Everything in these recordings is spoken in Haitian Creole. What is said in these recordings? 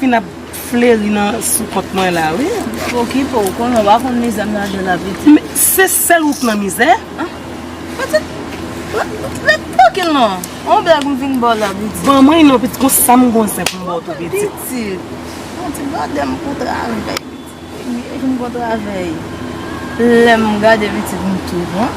Fin ap fleri nan sou kont mwen la wi. Pou ki pou ou konnen ou pa konn mizè m lage la pitit. Men se sèl ou k nan mizè. Pitit ret trankil non. On blag m vin ba w la pitit. Ban mwen non pitit gon sa m gon zen pou m ba w tou pitit. Pitit. Bon ti gade m kou travèy pitit. Ebyen kou m gon travèy. Lè m gade pitit m tou bon.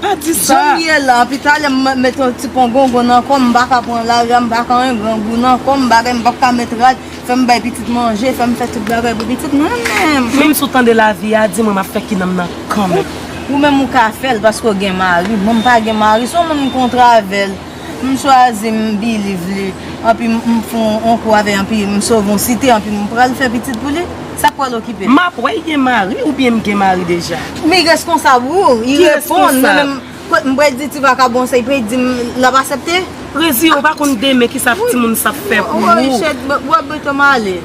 Pa di sa! Janm ye la, anpi talè m mèt yon ti pongongon nan kò m, m pa ka pran lari a, m pa ka yon grangou nan kò m, bagay m p ap ka mèt rad, fè m bay pitit manje, fè m fè tout bagay pou pitit mwen menm! Menm si w tande lavi a di mwen m ap fè kinanm nan kanmenm. Ou menm ou ka fè l paske w gen mari, mwen m pa gen mari, se yon moun m kontre avè l. M chwazi m biliv li anpi m fon on kou avè anpi m sove on site anpi m pral fè pitit pou li sa k pral okipe l. Map wè y gen mari oubyen m gen mari deja. Mi reskonsab wou y reponn nan menm m pral di ti vakabon sa y pral di m l ap asepte. Reziye w pa konn demen kisa timoun sa ap fè pou wou. Woy chet w ap bete m ale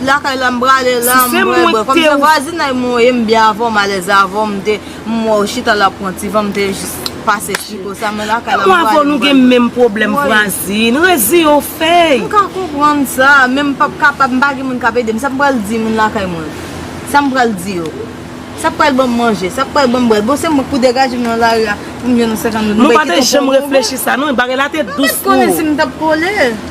lakay la m prale la m bwè bwè kòm se vwazinay mwen ye m byen avè w m alèz avè w m te. M wè w chita la pran ti van m te jis pase chiko sa men lakay la m wè Mwen avèw nou gen menm pwoblèm vwazin reziyen w fey. M ka konprann sa men m pap kapab m pa gen moun kap edem sa m pral di moun lakay mwen sa m pral di yo sa k pral banm manje sa k pral banm bwè bon se mwen k pou degaje m nan lari a pou m jwenn yon 50 goud m pral kite w pou yon goud m pa t janm reflechi sa non bagay la te dous pou ou. M pa t konnen si m tap kole.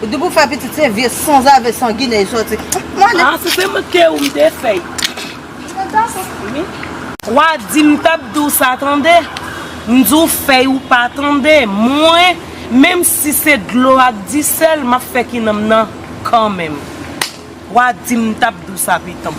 Ou di pou fè pitit se vye sanzave sanginè li sòti. M ale. Ah se te manke ou m te fè. Wa di m tap di w sa tande. M di w fè ou pa tande. Mwen menm si se dlo ak disèl map fè kinanm nan kanmenm. Wa di m tap di w sa pitanm.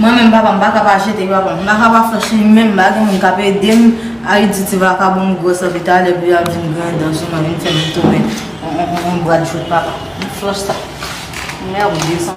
Mwen menm papa m paka pa jete papa m. M paka pa fè cheni menm ba gen moun k ap ede m. Ariditi vakabon m gwo sòt li ta lè epi l ap vin gran dan sou mwen vin fè m tounen yon bradjwèt papa. Mwen fè w sa. Mèwdye san.